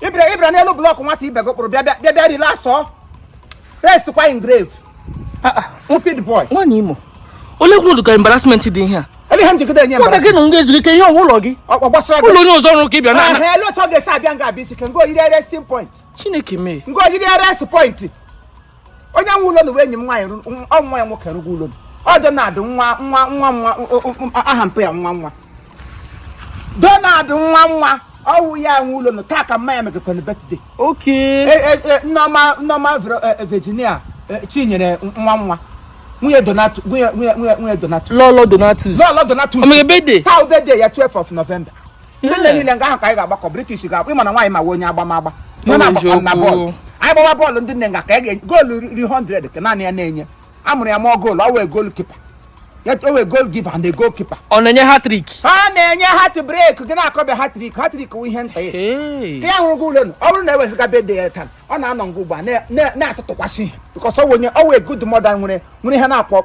ị bịara ị bịara n'elu blọkụ nwata ibe gị kpụrụ bịa bịa bịa bịa relax ọ rest kwa in grave Ah, ah, stupid boy nwaanyị imo oleekwa ụdị ka embarrassment dị ihe a ele ihe m jigide enye nwanne gị na m ga-ezuru ike ihe ọ wụ ụlọ gị ọ gbasara gị ụlọ onye ọzọ ọrụ ka ị bịa na ahụ ele otu ọ ga-esi abịa nga abịa isi ka ngo yiri resting point chineke mee ngo yiri resting point onye nwe ụlọ nụ wụ enyi m nwaanyị ọ nwa ya nwoke rụga ụlọ nụ ọ donald nwa nwa nwa nwa aha mpe ya nwa nwa donald nwa nwa ọ wụ ya nwe ụlọ nụ taa ka mma ya megakwanụ birthday e, e, e, nneọma nneọma virginia chinyere nwa nwa nwunye donatus nwunye donatus lọlọ donatus lọlọ donatus o me birthday taa ọ birthday ya 12th of november ndị nne niile nga ahụ ka anyị ga-agbakọ british ga-akpọ ị ma na nwaanyị ma wụ onye agbamagba Ọ na bụ na bọọlụ eziokwu. anyị gbawa bọọlụ ndị nne nga ka anyị ga- goolu ri 100 ka naanị ya na-enye a mụrụ ya mụọ goolu ọ wụ goalkeeper ọ wụ goal giver na goalkeeper ọ na-enye hat-trick a na-enye heartbreak gị na-akọbịa hat-trick hat-trick wụ ihe nta ya Hey. ya hụrụ gị ụlọ nụ ọ bụrụ na e wezuga birthday ya taa ọ na-anọ nga ugbu a na- na- na-atụtụkwasị ihe because ọ wụ onye ọ wụ a good mother nwere nwere ihe na-akpọ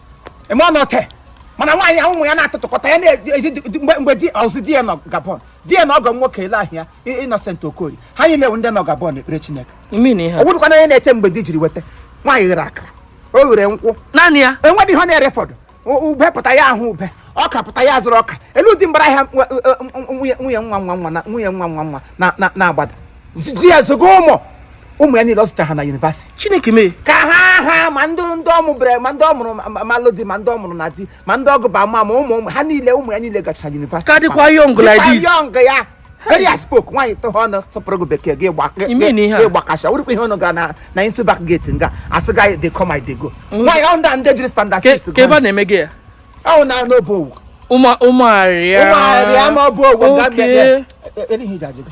eme ọ nọte mana nwaanyị ahụ ụmụ ya na-atụtụkọta ya na-eji di- mgbe mgbe di ọzụ di ya nọ gabon di ya na ọgọ m nwoke ele ahịa innocent okorie ha niile bụ ndị nọ gabon ekpere chineke ị mean ihe ọ a. bụrụkwa na onye na-eche mgbe di jiri weta nwaanyị ghere akara o ghere nkwụ naanị ya e nwedị ihe ọ na-erefọdụ U- ube pụta ya ahụ ube ọka pụta ya azụrụ ọka ele ụdị mbara ahịa nwa- nwunye nwunye nwa nwa nwa na nwunye nwa nwa nwa na- na- na-agbada ji ya zụga ụmụ ụmụ ya niile ọ zụcha ha na university chineke mee ka ha ha ma ndị ndị ọ mụbere ma ndị ọ mụrụ ma- ma lụ di ma ndị ọ mụrụ na di ma ndị ọ gụba ma ma ụmụ ụmụ ha niile ụmụ ya niile gacha university Ka dịkwa young like Dịkwa this. young ya very as spoke nwaanyị tụha ọnụ sụpụrụ gị bekee gị gba- gị- You mean ihe a? gị gbakasha wụrụkwa ihe ọnụ ga na na isi back gate nga asị gị I dey come I dey go nwaanyị ahụ ndị a ndị jiri standard Ke- six ka ebe a na-eme gị ya ahụ na n'obe ọ wụ ụmụ ụmụarịa ụmụarịa ma ọ bụ owu nga Okay. bịa- bịa- e- e- e- ihe iji ajị gị.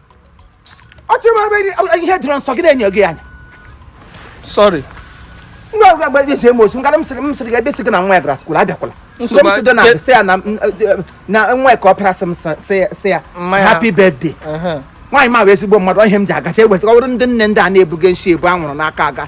ọ chịrị m ebe ihe dịrọ nso gị na-enyo gị anya sorry ngwa gba eji eme osi ngara m sịrị m sịrị gị ebe si gị na nwa ya gara school abịakwala mgbe Nsogbu m si dị na adị- sị ya na m- eh, na nwa ya ka ọ pịara sị m sị- sị ya- sị ya Mma ya. happy birthday Ehe. nwaanyị ma wụ ezigbo mmadụ ọ ihe m ji agacha eweta ọ bụrụ ndị nne ndị a na-ebuga nsi ebu anwụrụ n'aka aga